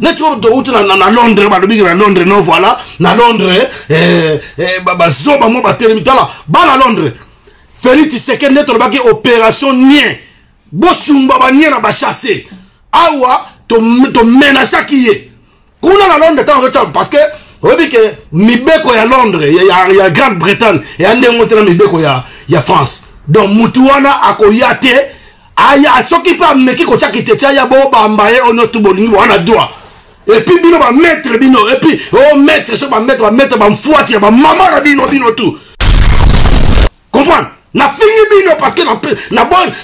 neti oyo touti na londres balobiki na londres no voilà na londres eh, eh, bazoba mwa batelemi tala bana londres félix tshisekedi nde tolobaki opération nien bosumba banie na bachasse awa tomenasaki ye kuna na londres ntango azotya parce que oyebi ke mibeko ya londres ya, ya, ya grande bretagne eya ndenge te na mibeko ya, ya france donc mutu wana akoya te aya soki mpe ameki kotya kiteti aya bobamba ye ono tu bolingi bowana dwa epuis bino bamaître bino epuis o oh, maître soki bamaître bamaître bamfuati ya bamama na bino bino tu comprendre nafingi bino parce que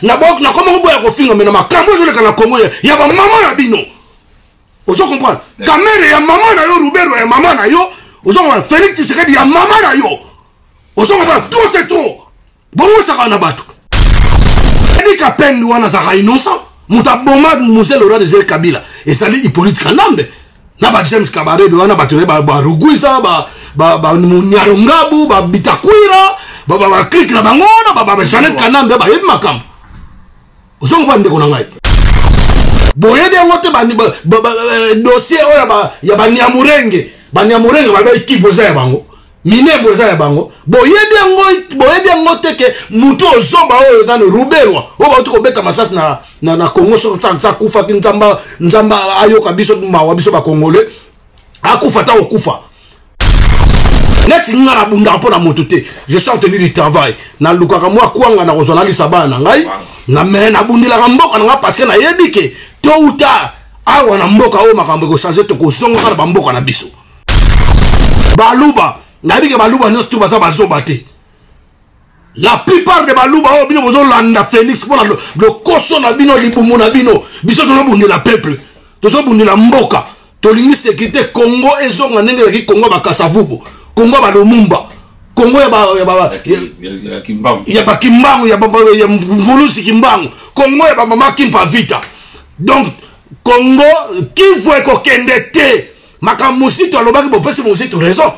nakomaki boya kofinga me na makambo ezoleka na kongo ya bamama na bino ozo comprendre kamere ya mama na yo rubero ya mama na yo ozo comprendre félix tisekedi ya mama na yo ozo comprendre trop c'est trop bongo saka na bato edi kapendi wana azalaka innocent moto aboma mose lora de jere kabila ezali hippolite kanambe na ba james kabarebe wana bato ne baruguisa banyaro ngabu babitakwira baklike na bango wana bajanet kanambe bayebi makambo ozongo ba ndeko na ngai boyebi yango te eh, dossier oyo ya banyamurenge banyamurenge balobi kivu eza ya bango minebo eza ya bango boyebi yango boyebi yango te ke motu ozoba oyo nano rubelwa oyo bauti kobeta masasi na, na, na congo soko akufaki nzamba nzamba ayoka biso mawa biso bakongole akufa ta kokufa neti nga nabundaka mpo na moto te je suis entenu du travail nalukaka mwa kwanga nakozwa nalisa bana na ngai na me nabundilaka mboka na ngai parceke nayebi ke to uta awa na mboka oyo makambo ekochange tokozongaka na bamboka na biso baluba nayebi ke baluba nyonso tu baza bazoba te la plupart de baluba oyo oh, bino bozolanda félix mpona lokoso na bino libumu na bino biso tozobundela peuple tozobundela mboka tolingi sekirite congo ezonga ndenge ezalaki congo ya bakasavubu congo ya balomumba congo ya bakimbangu ya mvulusi kimbangu congo ya bamama kimpa vita donc congo kivu ekokende te makambo mozito alobaki bopesi mozito raison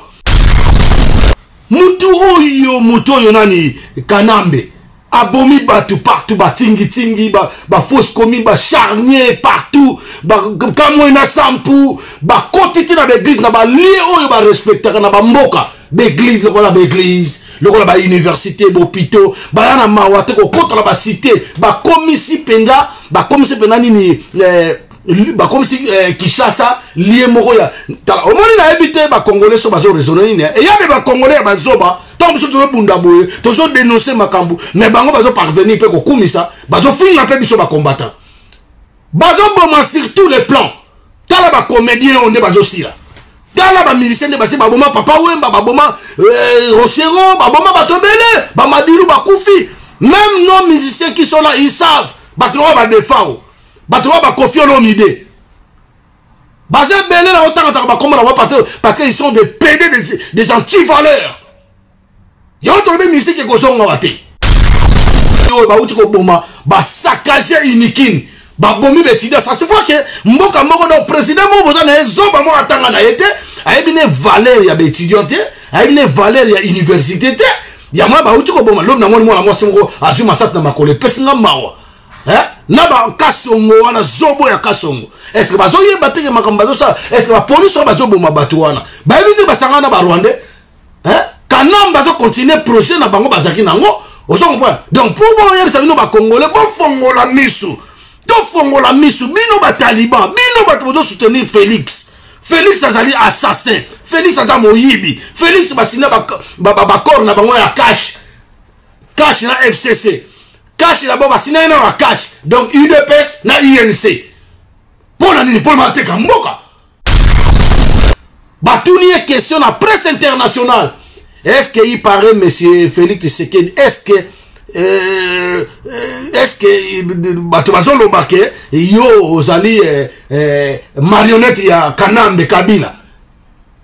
mutu oyo mutu oyo nani kanambe abomi bato partout batingitingi bafausse ba commune bacharnier partout bakamwe na sampu bakoti ti na baeglise na balie oyo barespectaka na bamboka baeglise lokola baeglise lokola bauniversité bopito baya na mawa te kokota na basite bakomisi mpenza bakomisi mpenza nini eh, bakomisi eh, kishasa lie moko ya tala omoni nayebi te bacongolais so bazo raisonne nini eh? eya de bacongolais ya bazoba ntango biso tozobunda boye tozodenonse makambo me bango bazoparvenir mpe kokumisa bazofinga mpe biso bacombattant bazoboma sur tous les plans tala bacomédien oyo nde bazosila tala bamusicien nde basi baboma papa wemba baboma eh, rochero baboma bato ebele bamadilu bakufi même non musicien qui sont là ils savent bato yango badefao bato ba bakofi olomide baza ebele na otangataka bakombo na bango parce que ils sont des pede des, des antivaleurs yango tolobi misiki ekozonga wa te oyo bauti koboma basakage unikine babomi betida ça se voit que mboka moko donc président moko boza na ye zoba moko atanga na ye te ayebi ne valeur ya baétudiant te ayebi ne valeur ya université te yango bauti koboma lobi na moni mwana mwasi moko azwi masasi na makolo epesi nga mawa eh? na bakasongo wana zobo ya kasongo estce bazoyeba teke makambo bazosala estce bapolisi oyo bazoboma bato wana bayebi nde basangana na barwandais eh? kanam bazokontinue projet na bango bazalaki nango ozo comprendre donc mpo boyebisa bino bakongole bofongola misu tofongola misu bino bataliban bino bato bozosoutenir félix félix azali assassin félix aza moyibi félix basina bakor na bango ya cash cash na fcc Cash d'abord basinani na ba cash donc udps na unc mpo na nini mpo na mateka mboka batuni ye question na presse internationale est ce que il paraît monsieur félix tshisekedi est ce que Euh, euh, est-ce que euh, bato bazoloba ke yo ozali eh, eh, marionnette ya kanambe kabila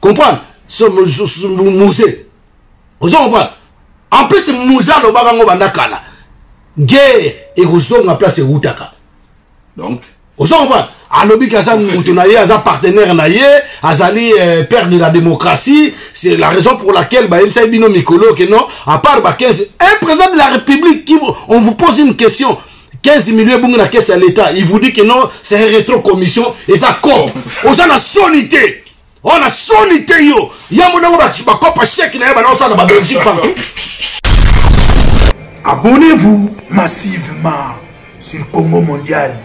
comprendre so muze ozo comprendre en plus muze alobaka ngo banda kala guerre ekozonga place ewutaka donc ozo comprendre alobi ke aza moto na ye aza partenaire na ye azali euh, père de la démocratie c'est la raison pour laquelle bayebisaki bino mikolo ke non à part ba 15 un président de la république qui on vous pose une question 15 millions ebongi na kesi ya l'état il vous dit que non c'est un rétro commission eza cop oza na soni te wana soni te yo yango nango bakopa sheke na ye banaosala ba belgique partout abonnez-vous massivement sur congo mondial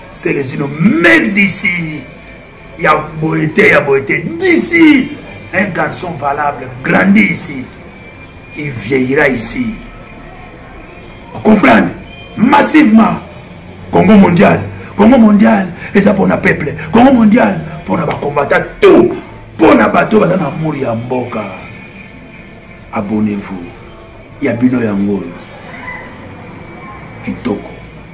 selezino mec d'ici ya boye te ya boye te d'ici un garçon valable grandi ici il vieillira ici comprendre massivement congo mondial congo mondial eza mpona peuple congo mondial mpona bakombata to mpona bato baza na mori ya mboka abonnez-vous ya bino yango oyo kitoko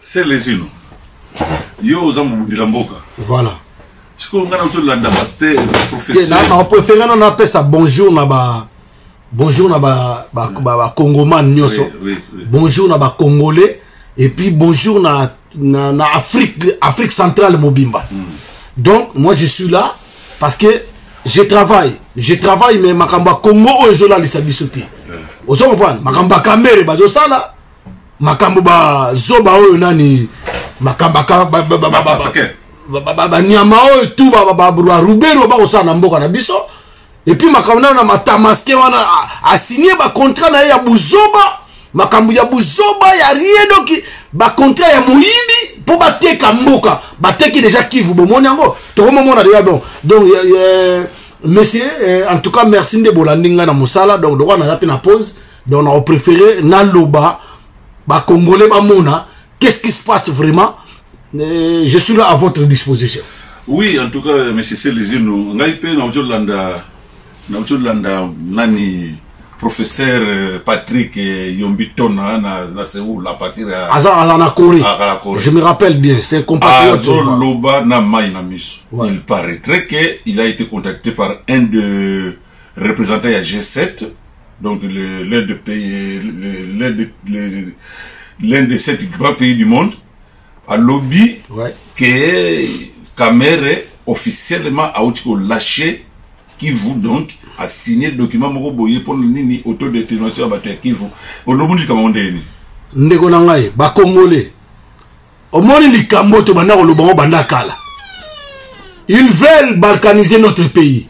Celezino, yo oza mobundela mboka. Voilà. sikoyo ngai nauti olanda paster professeurprefere nano apesa bonjour na ba bonjour na bacongomane ba, ba, nyonso oui, oui, oui. bonjour na bacongolais et puis bonjour na, na, na afrique afrique centrale mobimba mm. donc moi je suis là parce que je travaille je travaille mais makambo ya congo oyo ezolalisa biso te ozo comprendre makambo ya kamere bazosala makambo bazoba oyo nani makambo banyama oyo tu barubero bakosala na mboka na biso epuis makambo nano na matamaske wana asinie bacontrat na ye ya buzoba makambo ya buzoba ya rien doki bacontrat ya moyibi mpo bateka mboka bateki deja kivu bomoni yango tokomomona deja don donc monsieur eh, en tout cas merci nde bolandi ngai na mosala donc lokola naza mpe na pause donc nao préféré naloba bacongolais bamona qu'est ce qui se passe vraiment euh, je suis là à votre disposition oui en tout cas euh, monsieur selezino ngai mpe nauti olanda nauti olanda nani professeur euh, patrick yombi tona na, na seoul à partir ya aza aza na corée akala corée je me rappelle bien c'est compatriote azoloba na mai na miso ouais. il paraîtrait que il a été contacté par un de representant ya G7 donc l'un des pays l'un de l'un de sept grands pays du monde alobi ouais. que Kamere officiellement auti ko lâcher Kivu donc a signé document moko boye pona nini autodétermination ya bato ya Kivu olomoni likambo ndeni ndeko na ngai bakongole omoni likambo oyo tobanda koloba yango banda kala ils veulent balkaniser notre pays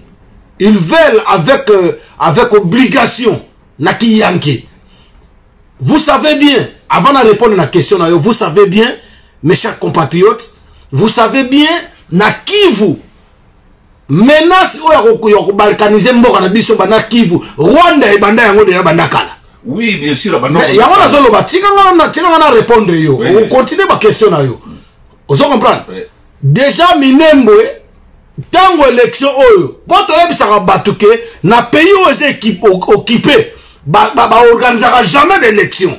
ils veulent avec, euh, avec obligation na kiyanke vous savez bien avant na répondre na question na yo vous savez bien mes chers compatriotes vous savez bien na kivu menace oyo akokuya kobalkanize mboka na biso banda kivu rwanda ebanda yango deya banda kala oui bien sûr yango nazoloba tika nga na répondre yo okontinue baquestion na yo ozo comprendre déjà minembwe ntango élection oyo mpo toyebisaka bato ke na pays oyo eza okipe baorganisaka jamais d'élection ba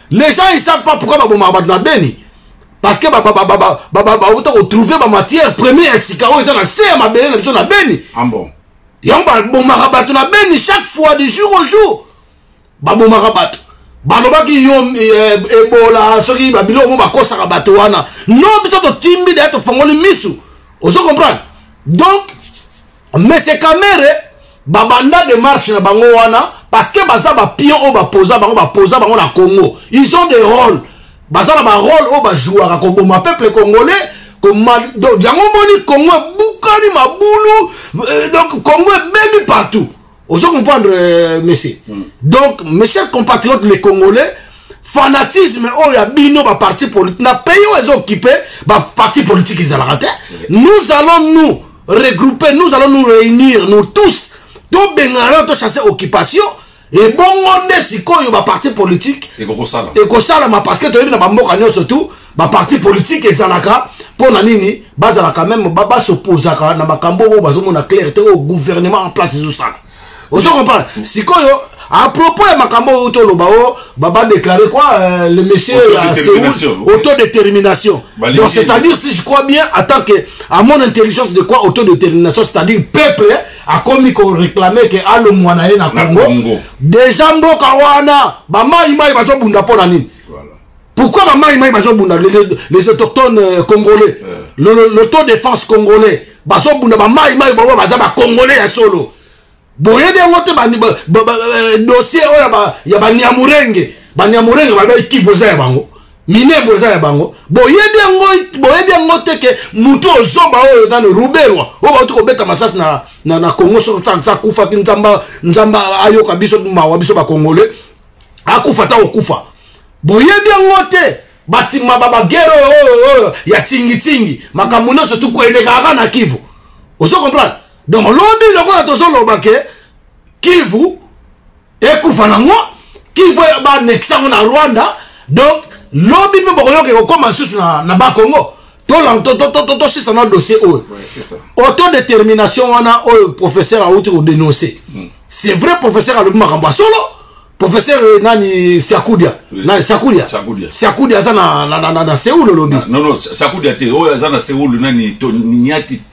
les gens ils savent pas pourquoi babomaka bato na beni parce que bauta kotrouve bamatière premier ya sika oyo eza na se ya mabele na biso na beni ah yango babomaka bato na beni chaque fois du jour au jour babomaka bato balobaki yo eh, ebola soki babilo omo bakosaka bato wana no biso totimbi deya tofongoli misu ozo comprendre donc monsieur kamere babanda demarche na bango wana parce que baza bapion oyo bapoza bango bapoza bango na congo ils ont des rôles baza na barole oyo bajouaka koboma peuple congolais donc yango omoni congo ebukani mabulu euh, donc congo ebebi partout ozo comprendre euh, monsieur mm. donc monsieur compatriote le congolais fanatisme oyo ya bino baparti politique na pays oyo ezokipe baparti politique ezalaka te nous allons nous regrouper nous allons nous réunir nous tous tobengana tochasse occupation ebongo nde sikoyo baparti politique ekosalama parce que toyebi na bamboka nyonso tu baparti politique ezalaka mpo na nini bazalaka meme basoposaka na makambo oyo bazomona claire te oyo gouvernement en place ezosala ozo comprendre sikoyo à propos ya makambo oyo toloba o baba déclaré quoi euh, le monsieur ya seoul autodétermination donc c'est à dire si je crois bien en tant que à mon intelligence de quoi autodétermination c'est à dire peuple akomi koreklame ke alongwa na ye na congo deja mboka wana bamaimai bazobunda mpo na nini Pourquoi ma maï maï bazo bunda les autochtones euh, congolais euh. l'auto défense congolais bazo bunda ba maï maï bango baza ba congolais ya solo boyebi yango te euh, dossier oyo oh, ya baniamurenge baniamurenge balobi kivu eza ya bango minebo eza ya bango boyebi yango boyebi yango te ke motu ozoba oyo nani rubelwa oyo bauti kobeta masasi na, na, na congo soki akufaki nzamba nzamba ayoka biso mawa biso bakongole akufa ta okufa boyebi yango te batima babagere oyo oh, oh, oyo oh, ya tingitingi makambo nyonso tukoelekaka na kivu ozo comprendre donc lobi lokola tozoloba ke kivu ekufa nango kivu banekisa yango na rwanda donc lobi mpe bokoyoka ekokoma lisusu na, na bakongo tosisa na dossier oyo autodétermination wana oyo professeur awuti kodenonce hmm. c'est vrai professeur alobi makambo ya solo professeur eh, nani siakudia nani siakudia siakudia aza na seoul olobi non non siakudia te oyo aza na seoul nani niati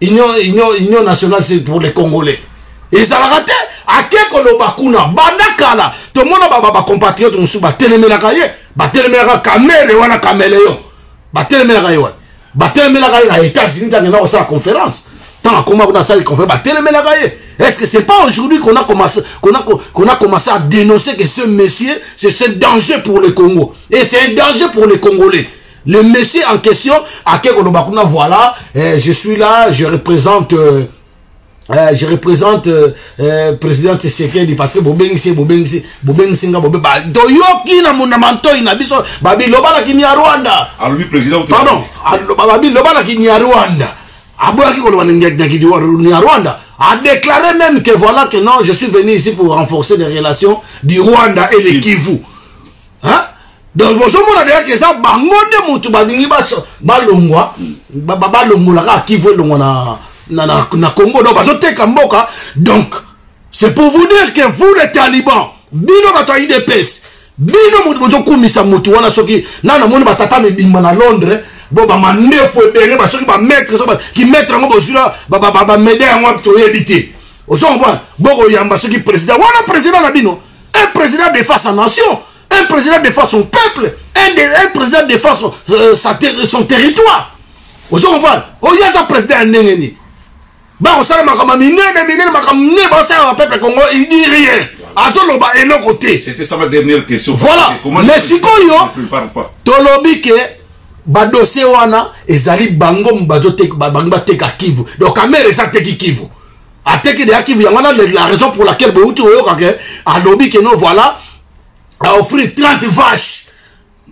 union, union, union nationale c'est pour les congolais ezalaka te ake koloba kuna banda kala tomona bacompatriote mosusu batelemelaka ye batelemelaka kamere wana kameleon batelemelaka ye wana batelemelaka ye na états-unis ntango ena kosala conférence ntango akoma kuna asali conférence batelemelaka ye est ce que c'est pas aujourd'hui qu'on a commencé qu'on a, qu'on a commencé à dénoncer que ce monsieur c'est un danger pour le congo et c'est un danger pour les congolais Le monsieur en question, à Kekolobakuna, voilà, eh, je suis là, je représente... Euh, euh, je représente euh, euh, président Tshisekedi parce que bobengisi bobengisi bobengisi nga bobe ba doyoki na mona mantoi na biso babi loba na kinya Rwanda alobi ah, président pardon aloba ah, babi loba na kinya Rwanda aboyaki koloba na kinya Rwanda a déclaré même que voilà que non je suis venu ici pour renforcer les relations du Rwanda et les Kivu donc bozomona deya ke eza bango nde motu balingi balongwa balongola kaka kivu elongwa na, na, na, na congo donc bazoteka mboka donc c'est pour vous dire que vous les talibans bino bato ya idps bino motu bozokumisa motu wana soki na namoni batata mibimba na londres bo bamandefu ebele basoki bamaître soki kimaître yango bozwi bameda yango toyebi te ozo comprendre bokoyamba soki président wana président na bino Un président défend sa nation, un président défend son peuple, un, de, un président défend son, euh, sa ter son territoire. ozo comprendre oyo aza président ya ndenge nini bakosala makambo ya minene minene makambo minene bakosala na peuple congo il dit rien azoloba eloko te voilà mais sikoyo tolobi ke badosie wana ezali bango bazobangi bateka kivu donc kamere eza teki kivu ateki deya kivu yango wana la raison pour laquelle bouti oyoka ke alobi ke no voilà aoffrir 30 vache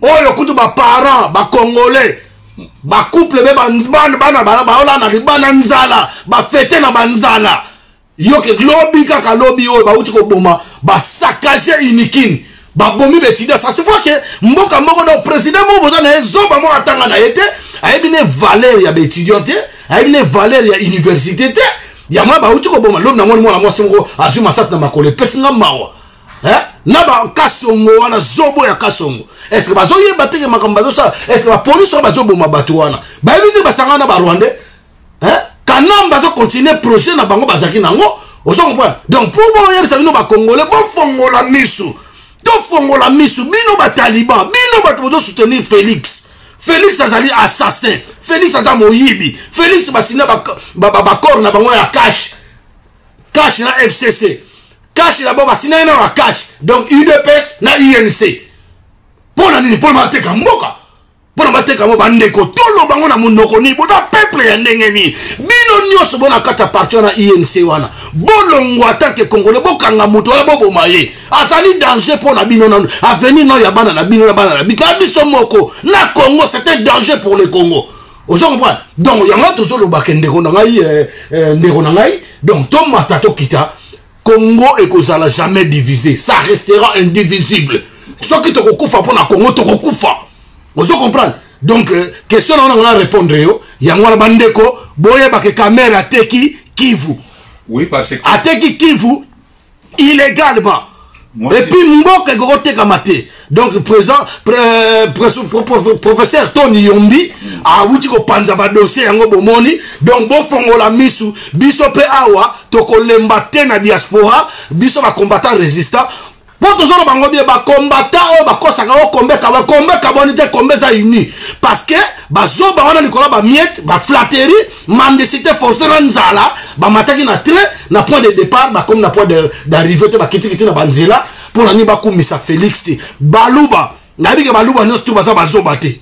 oyo kutu baparent bacongolais bacouple be bana baola na libana nzala bafete na banzala yoke lobi kaka lobi oyo bauti koboma basakage unikin babomi ba étudiant ça se voit que mboka moko donc président moko boza na ye zoba moko atanga na ye te ayebi ne valeur ya baétudiant te ayebi ne valeur ya université te yango ya bauti koboma lobi namoni mwana mwasi moko azwi masasi na makolo epesi nga mawa eh? na bakasongo wana zobo ya kasongo estce bazoyeba teke makambo bazosala estce bapolisi wana bazoboma bato wana bayebi te basangana na barwandais hein? kanamba azo continuer projet na bango bazalaki nango ozo comprendre donc mpo boyebisa bino bakongole bofongola misu tofongola misu bino bataliban bino bato bozo soutenir félix félix azali assassin félix aza moyibi félix basina bakor ba, ba, ba na bango ya cash cash na fcc cash na bango basinaki na na cash donc udps na unc mpo na nini mpo na mateka mboka mpo na bateka yango bandeko toloba yango na monoko nini boza peuple ya ndenge nini bino nyonso bona kata parti wana inc wana bolongwa atanke congolais bokanga moto wana boboma ye azali danger mpo na bino nanu avenir nao ya bana na bino na bana na bino na biso moko na congo c'est un danger pour le congo ozo comprendre donc yango tozolobake ndeko na ngai eh, eh, ndeko na ngai donc tomata tokita Congo ekozala jamais divise, ça restera indivisible. Soki tokokufa pona Congo tokokufa. Ozo comprendre? Donc euh, question na on a répondre yo, yango wana bandeko boyeba ke kamera teki Kivu. Oui parce que ateki Kivu illégalement. Et puis mboka ekokoteka mate. donc présent professeur tony yombi awuti kopanza badossier yango bomoni donc bofongola misu biso mpe awa tokolemba te na diaspora biso bacombattant résistant mpo tozolo bango bie bakombata oyo bakosaka o kombe kabwa kombe kabwani te kombe eza uni parce que bazoba wana likolo bamiete baflateri mendicité forcé na nzala bamataki na train na point de départ bakomi na point d'arrivée te bakitikiti na banzela mpo na nini bakumisa felix te baluba nayebi ke baluba nyonso to baza bazoba te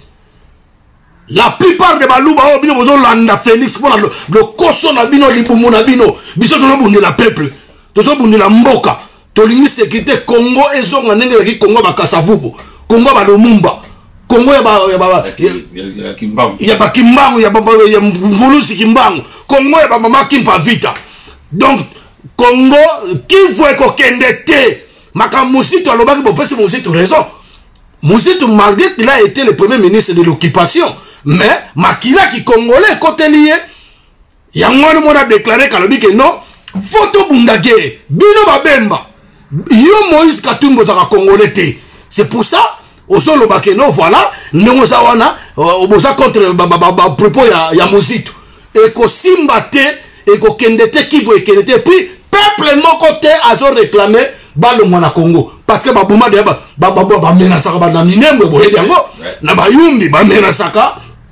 la plupart de baluba oyo bino bozolanda felix mpo na lokoso na bino libumu na bino biso tozobundela peuple tozobundela mboka tolingi sekirite kongo ezonga ndenge ezalaki kongo ya bakasavubu kongo ya balomumba kongo ya bakimbangu ya mvulusi kimbangu kongo ya bamama kimpa vita donc Congo Kivu ekokende te makambo Muzitu alobaki bopesi Muzitu raison Muzitu malgré qu'il a été le premier ministre de l'occupation mais makila ki congolais ekoteli ye yango wana mona déclaré kalobi ke non fo tobunda guerre bino babemba yo Moïse Katumbi ozaka congolais te c'est pour ça ozoloba ke no voilà ndenge oza wana euh, boza contre bapropos ya, ya mozitu ekosimba te ekokende te kivu ekende te puis peuple moko te azoreklame balongwa na congo parce que baboma deya bamenasaka bana minembwe boyebi yango na bayumbi bamenasaka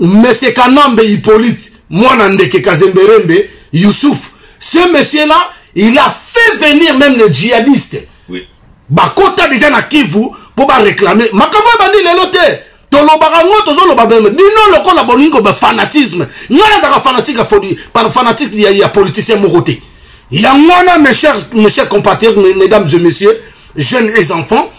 Monsieur Kanambe Hippolyte, Mwana Ndeke Kazemberembe, Youssouf, ce monsieur-là, il a fait venir même les djihadistes. Oui. Bakota déjà na Kivu pour ba réclamer. Makambo bandi lelo te. tolobaka ngo tozoloba beme bino lokola bolingi koba fanatisme ngai nazaka fanatique ya fodi fanatique ya, ya politicien moko te yango wana mes chers mes chers compatriotes mesdames et messieurs jeunes et enfants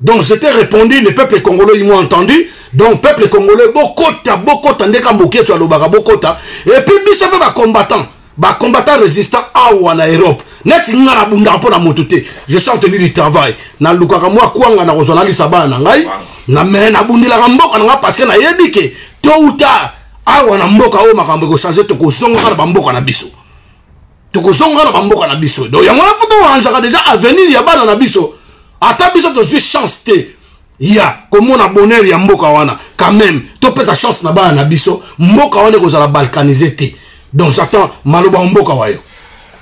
Donc je t'ai répondu, le peuple congolais, ils m'ont entendu. Donc peuple congolais, bokota, bokota, ndeka mbokie, tu as l'obaka, bokota. Et puis, biso pe ba combattants, ba combattants résistants, awa na Europe. Net nga na bunda po na moto te. Je suis en tenue du travail. Na lukaka mwa kwanga na kozwa na lisa bana na ngai. Na me na bundelaka mboka na nga parce que na yebi ke tôt ou tard awa na mboka oyo makambo ekosanze tokozongaka na bamboka na biso tokozonga na bamboka na biso donc yango wana fo torangeaka deja avenir ya bana na biso ata biso tozwi chance te ya komona bonheur ya mboka wana quand même topesa chance na bana na biso mboka wana ekozala balkanise te donc j'attends maloba ya mboka wa yo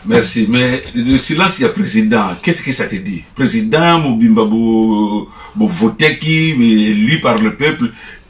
Merci. Mais le silence, il y a président. Qu'est-ce que ça te dit Président, Mobimba, vous votez qui, élu par le peuple.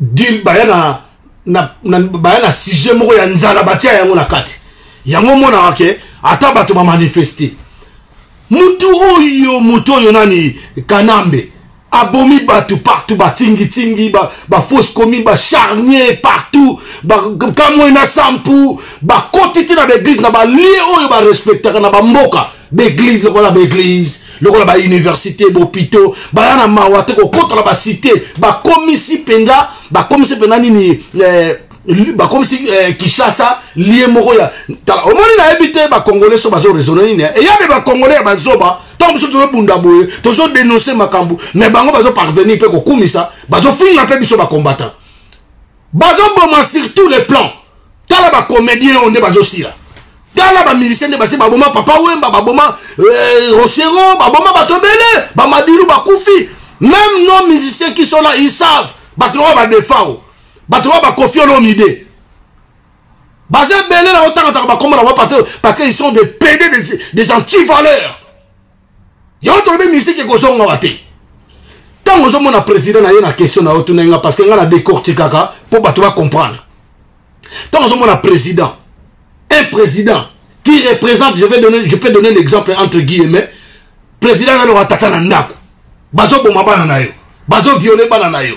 deal baya na, na, na, baya na sujet moko ya nzala batia yango na kati yango omonaka ke ata bato bamanifeste mutu oyo motu oyo nani kanambe abomi bato partout batingitingi bafausse ba commune bacharnier partout bakamwe na sampu bakoti ti na baeglise na balie oyo barespectaka na bamboka baeglise lokola baeglise lokola bauniversité bopito baya na mawa te kokota na basite bakomisi mpenza bakomisi mpenza nini eh, bakomisi eh, kishasa lie moko ya tala omoni nayebi te bakongole so bazo raisonne nini eyabe bakongole ya bazoba ntango biso tozobunda boye tozodenonse makambo me bango bazoparvenir mpe kokumisa bazofinga mpe biso bakombata bazo boma sur tous les plans tala ba comédien oyo nde bazo sila tala ba musicien nde basi baboma papa wemba baboma euh, rochero baboma bato ebele bamadilu bakufi même nos musiciens qui sont là ils savent bato oyo badefao bato oyo bakofi olomide baza ebele na otangataka bakombo na bango parce que ils sont des pede des, des antivaleurs yango tolobi misiki ekozonga wa te ntango ozomona président na ye na question na yo tuna nga parce que nga na décortikaka mpo bato bacomprendre ntango ozomona président un président qui représente je, vais donner, je peux donner l'exemple entre guillemets président yaloka tata na ndako bazoboma bana na yo bazoviole bana na yo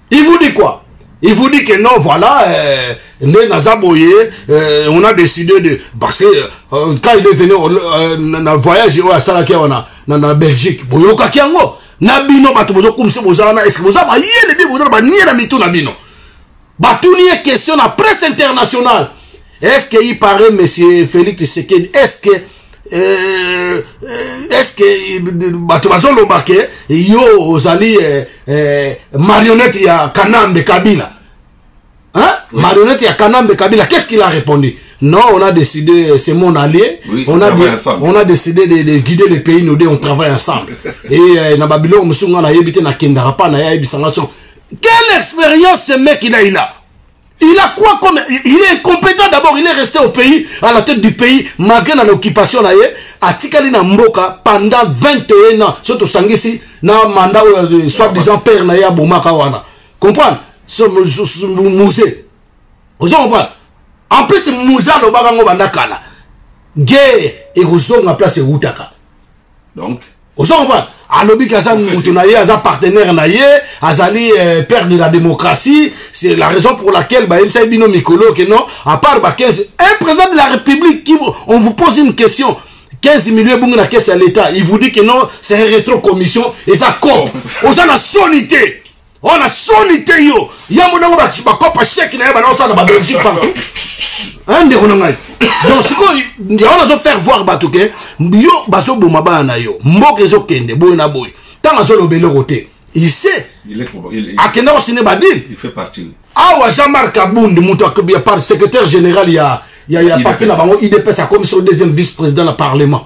Il vous dit quoi Il vous dit que non, voilà, euh, les Nazaboye, euh, on a décidé de... Parce que euh, euh quand il est venu au euh, na voyage oyo asalaki awa na, na, na Belgique, boyokaki yango na bino bato bozokumisa boza wana eske boza mayele bi boza na banie na mitu na bino batuni ye question na presse internationale est ce que il paraît monsieur félix tshisekedi est ce que Euh, euh, est-ce que euh, bato bazoloba ke yo ozali eh, eh, marionnette ya kanambe kabila hein? oui. marionnette ya kanambe kabila qu'est-ce qu'il a répondu non on a décidé c'est mon allié oui, on, a, on a décidé de, de guider les pays nous deux on travaille ensemble et euh, na babiloko mosusu ngai nayebi te nakendaka mpa na ye ayebisanga so quelle expérience ce mec il a il a Il a quoi comme il est incompétent d'abord il est resté au pays à la tête du pays malgré na l'occupation na ye atikali na mboka pendant 21 ans soki tosangisi na mandat oyo euh, soit disant père na ye abomaka wana comprendre muse ozo comprendre en plus muse alobaka ngo banda kala guerre ekozonga place ewutaka donc ozo comprendre alobi ke aza moto na ye aza partenaire na ye azali euh, père de la démocratie c'est la raison pour laquelle bayebisaki bino mikolo ke non à part ba 15 un président de la république qui on vous pose une question 15 millions ebongi na kese ya l'état il vous dit que non c'est un rétro commission eza cop oza na soni te Oh na soni te yo ya monango bakopa sheke na ye banaosala na babelgique partout hein, ndeko na ngai donc sikoyo yango nazo faire voir bato ke yo bazoboma bana na yo mboka ezokende boye na boye ntango azoloba eloko te ise akenda kosine badile awa jean marc abundi moto ya par secrétaire général ya, ya, ya parti na bango idps akomi so deuxième vice président na parlement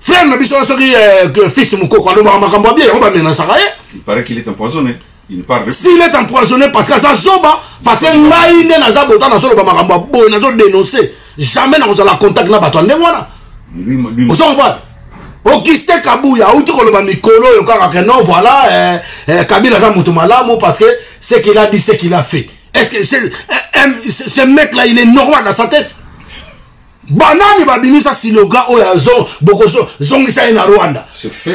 frère na biso soki eh, fils mukoko alobaka makambo abie yango bamenasaka ye il paraît qu'il est empoisonné s'il est empoisonné parce que aza zoba parce que ngai nde naza bota nazoloba makambo ya boye nazodénonce jamais nakozala contact na bato ya ndenge wana ozo comprendre auguste kabuya auti koloba mikolo oyo kaka ke non voilà eh, eh, kabila aza moto malamu parce que ce qu'il a dit ce qu'il a fait est ce que ce eh, eh, mec là il est normal dans sa tête banani babimisa siloga oyo azo bokozongisa ye na rwanda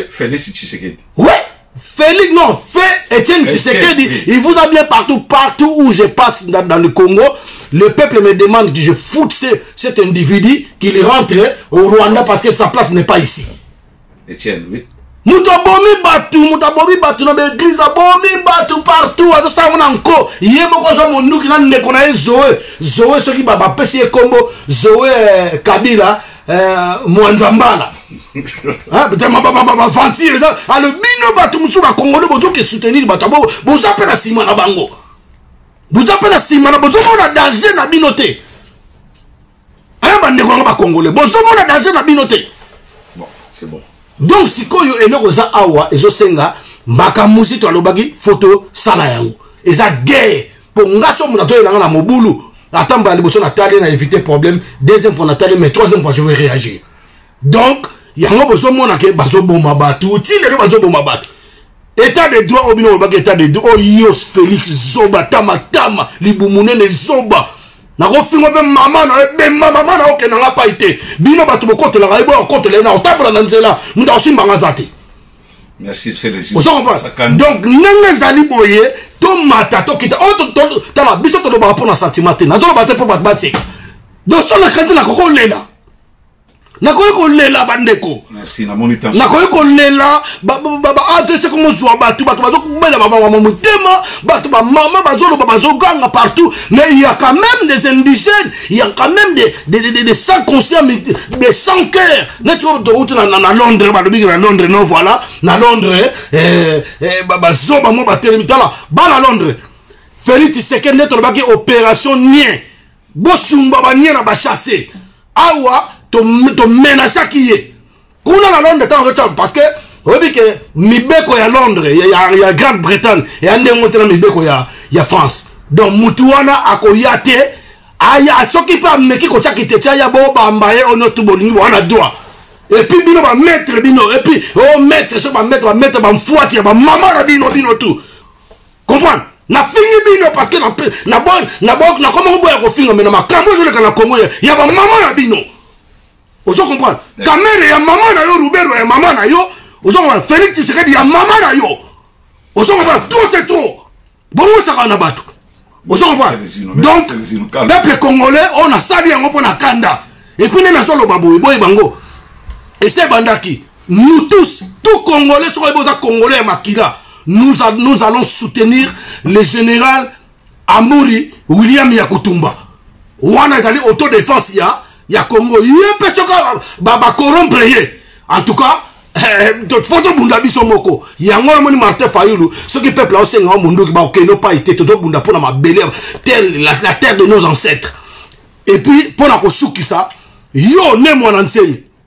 felix tshisekedi we Félix, non, fait Etienne Tshisekedi, oui. il vous a bien partout, partout où je passe dans, dans le Congo, le peuple me demande que je foute ce, cet individu, qu'il rentre au Rwanda parce que sa place n'est pas ici. Etienne, oui. moto abomi bato moto abomi bato na baeglize abomi bato partout azosango na nko ye moko azwa monduki na ndeko na ye zoe zoe soki bapesi ye nkombo zoe eh, kabila eh, mwanza mbala baventire alo bino bato mosusu bakongole bozoki soutenir bato yango boza mpe na nsima na bango boza mpe na nsima na bozomona danger na bino te aya bandeko yango bakongole bozomona danger na bino te bon, bon. donc sikoyo eloko eza awa ezosenga mbaka muzito alobaki foto sala yango eza guerre mpo nga so moto atoyelanga na mobulu ata mbala liboso natali na éviter problème deuxième fois natali mais troisième fois je vais réagir donc yango bozomona ke bazoboma bato ti lelo bazoboma bato etat de droit oyo bino bolobaki etat de droit oyo felix zoba tamatama libumu nene zoba nakofingo mpe mama na yo ebemba mama na yo okenda nga pai te bino bato bokotelaka ye boya kokotela ye na kotambola na nzela moto akosimbanga aza te ozo comprendre donc ndenge ezali boye tomata tokita oyo oh, tala biso tolobaka mpo na sentiment te nazoloba te mpo bato baseka donc so na kanti nakokolela nakoki kolela bandeko nakoki kolela baavc komozwa bato bato bazokubela bamama motema bato bamama bazoloba bazoganga partout mais il y a quand même des indigènes il y a quand même des, des, des, des, des sans conscients des sans cœur neti oyo tokouti na, na, na londres balobiki na londres no voilà na londres eh, eh, bazoba mwa batelemi tala bana londres félix tshisekedi nde tolobaki opération nien bosumba banie na bachasse awa tomenasaki to ye kuna na londres ntango azotya parce que oyebi ke mibeko ya londres ya, ya, ya grande bretagne eya ndenge te na mibeko ya, ya france donc mutu wana akoya te aya soki mpe ameki kotya kiteti aya bobamba ye ono tu bolingi wana droit epuis bino bamaître bino epuis o oh, maître soki bamaître bamaître bamfuati ya bamama na bino bino tout comprendre nafingi bino parce que nakoma koboya kofinga me na makambo ezoleka na kongo ya bamama na bino ozo comprendre kamere ya mama na yo rubero ya mama na yo ozo comprendre félix tshisekedi ya mama na yo ozo comprendre trop c'est trop bongosaka na bato ozo comprendre donc peuple congolais oyo oh, nasali yango mpo na kanda epuis nde nazoloba boye boye bango ese ebandaki nous tous tout congolais soki oyebi oza congolais ya makila nous, nous allons soutenir le général amuri william ya kutumba wana ezali autodefense ya ya congo ye mpe soki bacorompre ye en tout cas eh, eh, fo tobunda biso moko yango wana moni martin fayulu soki peuple aosenga wa mondoki bakokende opai te tozobunda mpo na mabele la terre de nos ancêtres epuis mpo na kosukisa yo ne mwana nsemi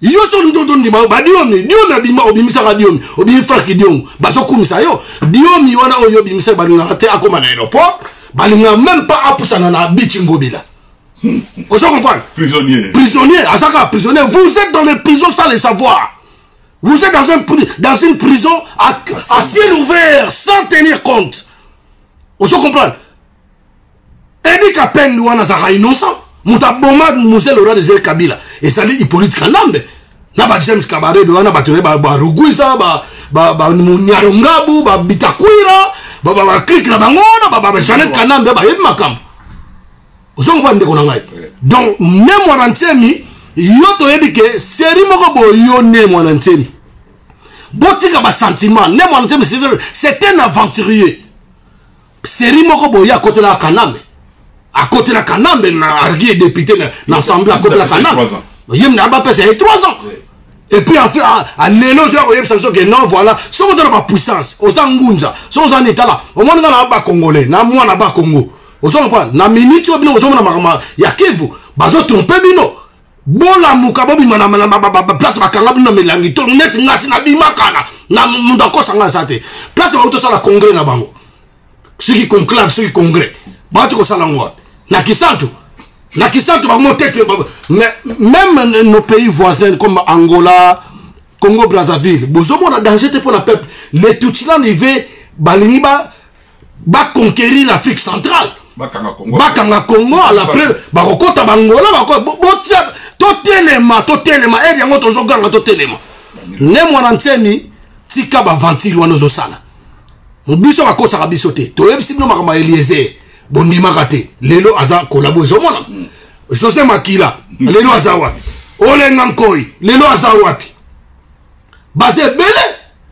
yo so olingi tondima yo badiomi diomi abima obimisaka diomi obimi frank diongo bazokumisa yo diomi wana oyo obimisaki balingaka te akóma na aéroport balingaka même pas apusana na bici ngobila ozo comprendre prisonnier prisonnier azaka prisonnier vous êtes dans les prisons sans le savoir vous êtes dans, un, dans une prison à, à ciel ouvert sans tenir compte ozo comprendre Edi Kapend wana azalaka innocent moto aboma mose lora desire kabila ezali hippolite kanambe na ba james kabarebe wana bato ne barugwisa banyarongabu babitakwira baklike na bango wana bajanet kanambe bayebi makambo ozongo ba ndeko na ngai donc ne mwana nsemi yo toyebi ke seri moko boye yo ne mwana nsemi botika basentiment ne mwana nsemi c'est un aventurier Seri moko boye akotela Kanambe. Akotela Kanambe na argi député na assemblée akotela Kanambe. Yem na ba pesa 3 ans. Et puis en fait à lelo je koyeb sanso que non voilà ce qu'on a la puissance aux angunza ce qu'on a état là au monde dans la ba congolais na moi na ba congo aux on quoi na minute au bien aux on a ma ya kivu ba doit tromper bino bolamuka bobima na place bakanga bino na milangi to neti ngasi nabimakana na moto akosa ngai aza te place bango tosala congrès na bango soki conclave soki congrès bawati kosala yango wapi na kisantu na kisantu bango tete même nos pays voisins comme angola congo brazzaville bozomona danger te mpo na peuple le tutsi na live balingi ba ba conquérir l'Afrique centrale bakanga Congo bakanga Congo à la preuve bakokota bangola bako botia totelema totelema eri yango tozoganga totelema ne mwana nsemi tika baventire wana ozosala biso bakosaka biso te toyebisi bino makambo ya eliezer bondimaka te lelo aza kolabo ezomona mm. josé makila mm. lelo aza wapi olenga nkoi lelo aza wapi baza ebele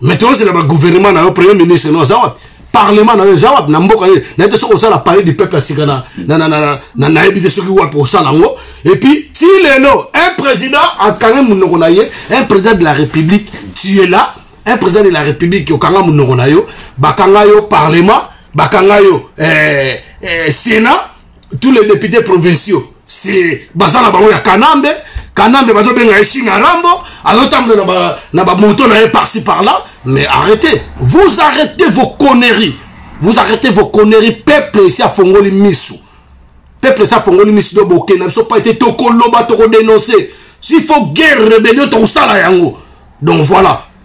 mais tozela ba gouvernement na yo premier ministre no aza wapi parlement na yo eza wapi na mboka nini nayebi te soki osala palais du peuple ya sika nayebi te soki wapi osala yango epuis ti lelo un président akangi monoko na ye un président de la république tu es là un président de la république okanga monoko na yo bakanga yo parlement bakanga yo eh, eh, sénat tous les députés provinciaux c'est baza na bango ya kanambe kanambe bazobenga ye shinga rambo azotambola na bamoto na ye parci par là mais arrêtez vous arrêtez vos conneries vous arrêtez vos conneries peuple esi afongoli misu peuple esi afongoli misu do bokenda biso pa ete tokoloba tokodenonse s'il faut guerre rébellion tokosala yango donc voilà